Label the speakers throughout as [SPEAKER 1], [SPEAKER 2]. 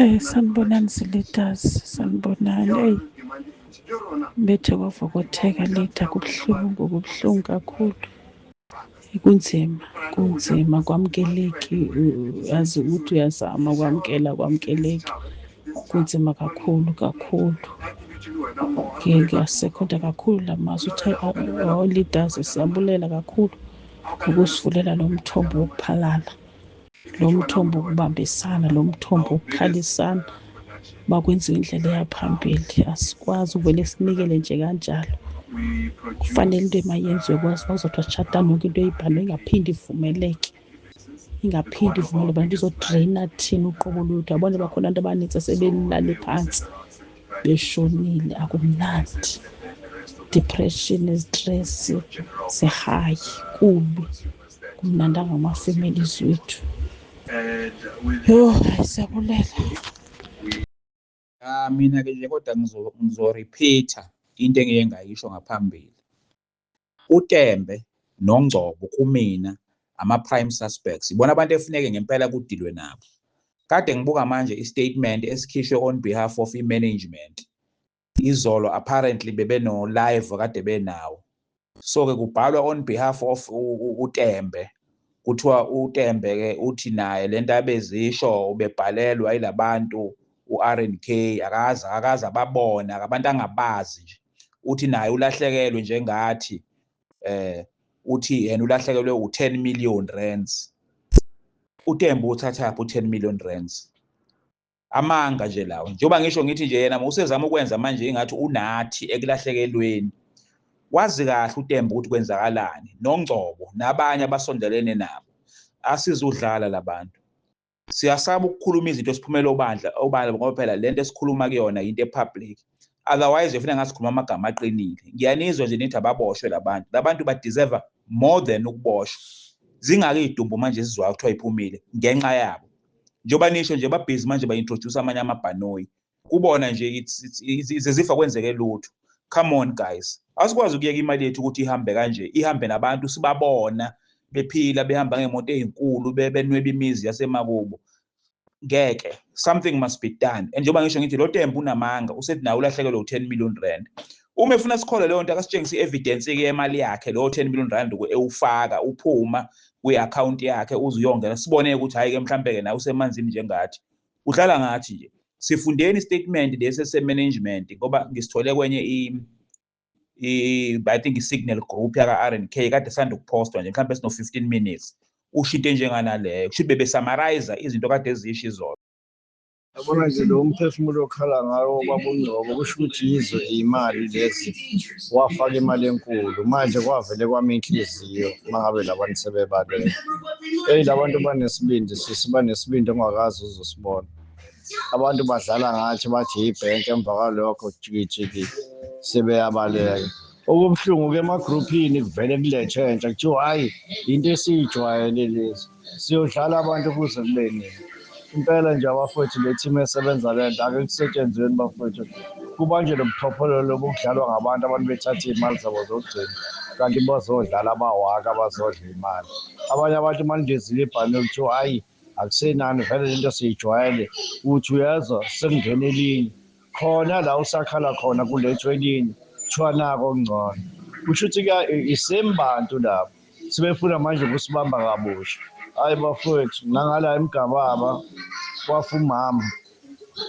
[SPEAKER 1] Eh sanibonani sileaders sanibonani eyi bethe kwavokotheka lida kubuhlungu kubuhlungu kakhulu kunzima kunzima kwamukeleki yazi ukuthi uyazama kwamukela kwamukeleki kunzima kakhulu kakhulu ngiyasekhonda kakhulu la mazwi uthe o-leaders siyabulela kakhulu ukusivulela lo mthombo wokuphalala lo mthombo ukubambisana lo mthombo ukukhalisana makwenziwa indlela eyaphambili asikwazi ukuvele sinikele nje kanjalo kufanele into emayenziwe kwazi bazothi washatana yonke into eyibhalwe ingaphinde ivumeleke ingaphinde ivumele abantu izodraina thina uqobo lwethu abona bakhona abantu abaninzi asebelale phansi beshonile akumnandi depression stress sihayi kubi kumnandanga ama families wethu yho hayi siyabulela
[SPEAKER 2] Ah mina ke nje kodwa ngizorepeater into engike ngayisho ngaphambili. UTembe noNgcobo kumina ama-prime suspects ibona abantu efuneke ngempela kudilwe nabo. Kade ngibuka manje i-statement esikhishwe on behalf of i-management izolo apparently bebeno live kade benawo so ke kubhalwa on behalf of uTembe kuthiwa uTembe ke uthi naye lento abezisho ubebhalelwa ilabantu uRNK akaza akaza babona abantu angabazi nje uthi naye ulahlekelwe njengathi eh uthi yena ulahlekelwe u10 million rands uTembe uthathaphi u10 million rands amanga nje lawo njengoba ngisho ngithi nje yena usezama ukwenza manje ingathi unathi ekulahlekelweni wazi kahle uTemba ukuthi kwenzakalani noNgcobo nabanye abasondelene nabo asizudlala labantu siyasaba ukukhuluma izinto esiphumela obandla obala ngoba phela lento esikhuluma kuyona into epublic otherwise ufuna ngasikhuluma amagama aqinile ngiyanizwa nje nithi ababoshwe labantu labantu ba deserve more than ukuboshwa zingaki idumbu manje sizwa kuthiwa iphumile ngenxa yabo njengoba nisho nje babhizi manje ba introduce amanye amabhanoyi kubona nje izizifa kwenzeke lutho come on guys asikwazi ukuyeka imali yethu ukuthi ihambe kanje ihambe nabantu sibabona bephila behamba ngemoto ezinkulu benweba imizi yasemakubo ngeke something must be done and njengoba ngisho ngithi lo tembu unamanga usethi naye ulahlekelwe u-10 million rand uma efuna sikholwe leyo nto akasitshengise i-evidence-ke yemali yakhe lowo 10 million rand ewufaka uphuma kwi-akhawunti yakhe uze uyongena sibone-ke ukuthi hhayi-ke mhlawumpe-ke naye usemanzini njengathi udlala ngathi nje sifundeni istatement lesi esemanagement ngoba ngisithole kwenye i think i-signal group yaka-r and k kade sanda ukuphostwa nje mhlawumbe sino-fifteen minutes usho into enjenganaleyo kusho ukuthi bebesamarayiza izinto kade ezisho izolo yabona
[SPEAKER 3] nje lo mphefumulo okhala ngawo kwabungcobo kusho ukuthi yizo iy'mali lezi wafaka imali enkulu manje kwavele kwami inhliziyo uma ngabe labantu sebebalele eyi labantu banesibindi sisi banesibindi ongakazi uzosibona abantu badlala ngathi bathi yibhenki emva kwalokho jikijiki sebeyabaleka okubuhlungu-ke emagruphini kuvele kulethe entsha kuthiwa hhayi yinto esiyijwayele lezi siyodlala abantu kuze kube nini impela nje abafowethu le team esebenza le nto ake kusetshenzweni bafowethu kubanje lo buchophololo lobu kudlalwa ngabantu abantu bethatha iy'mali zabo zokugcina kanti bazodlala abawaka bazodla imali abanye abantu uma nidizile ibhanoyi kuthiwa hhayi akusenani vele lento siyijwayele uthi uyezwa sekungena elinye khona la usakhala khona kulethwa elinye kuthiwa nako okungcono kusho ukuthi isame bantu labo sebefuna manje ukusibamba kabusha hhayi bafowethu nangala emgababa kwafa umama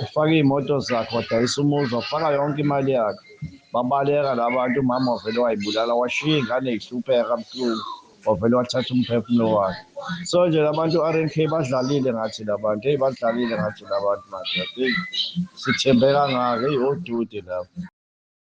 [SPEAKER 3] ufaka iy'moto zakhe wadayisa umuzi wafaka yonke imali yakhe babaleka la bantu umama wavele wayibulala washiya iy'ngane y'hlupheka buhlungu wavele wathatha umphefumulo wakhe so nje labantu RNK badlalile ngathi labantu hey badlalile ngathi labantu madoda sithembe kangaka hey odude lapho